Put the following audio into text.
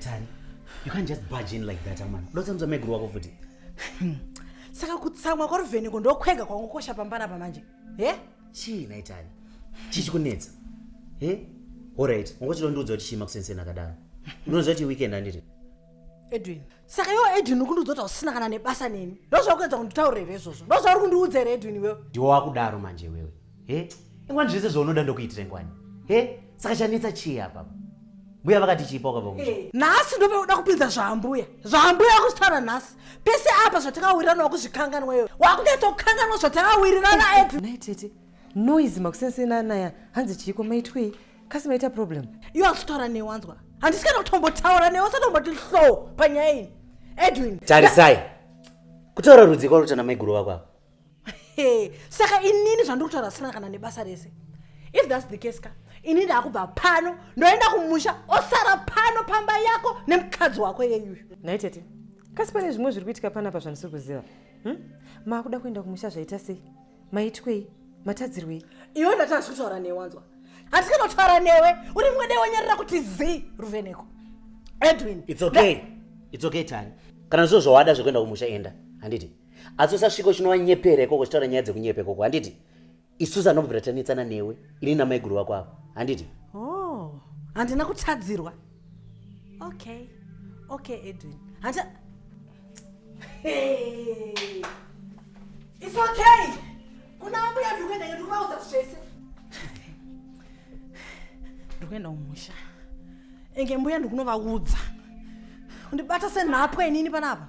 Tani, you can't just barge in like that, amana. Don't tell me wako futi. Saka kutsamwa kwa Ruveniko ndokwega kwangokosha pambana pa manje. Eh? Chii nhai Tani? Chii chikunetsa? Eh? All right, ungochilondiudza kuti chii makusenseni akadaro. Unoziva kuti weekend handiri? Edwin, saka iwo edwin ukundiudza kuti hausina kana nebasa neni ndozvakuedza kunditaura here izvozvo ndozvauri kundiudza here edwin iwewe ndiwo wakudaro manje iwewe he ingwani zvese zvaunoda ndokuitira ingwani he saka chanetsa chii apapa mbuya vakati chipa wakabva musha eh. nhasi ndove uda kupinza zvaambuya zvaambuya akuzvitaura nhasi pese apa zvatakawirirana wakuzvikanganwa iwe wakunetsa kukanganwa zvatakawirirana edwin tete noise makusensena naya hanzi chiiko maitwei kasi maita problem iwe asitaura newe wanzwa handisi kana kutombotaura newe usatomboti hlo panyaya iyi edwin tarisai kutaura rudzi kwaruta namaiguru vako ava Hey, saka inini zvandiri kutaura zvisina kana nebasa rese if thats the case ka ini ndaakubva pano ndoenda kumusha osara pano pamba yako nemukadzi wako yeyuyu nhai tete kasi pane zvimwe zviri kuitika panapa zvandisiri kuziva hmm? maakuda kuenda kumusha zvaita sei maitwei matadzirwei iwe ndati asi kutaura newe wanzwa hati kanotaura newe uri mwe dai wanyarira kuti zii ruveneko edwin its okay its okay tani kana zvizo zvawada zvekuenda kumusha enda handiti asi usasvika uchinowanyepera ikoko uchitaura nyaya dzekunyepa ikoko handiti isusu anobvira tanetsana newe ini namaiguru vako avo handiti oh, handina kutadzirwa okay okay edwin hanti its okay kuna ambuya ndikuenda iyo ndikuvaudza zvese ndikuenda umusha enge mbuya ndikunovaudza undibata senhapwa inini panapa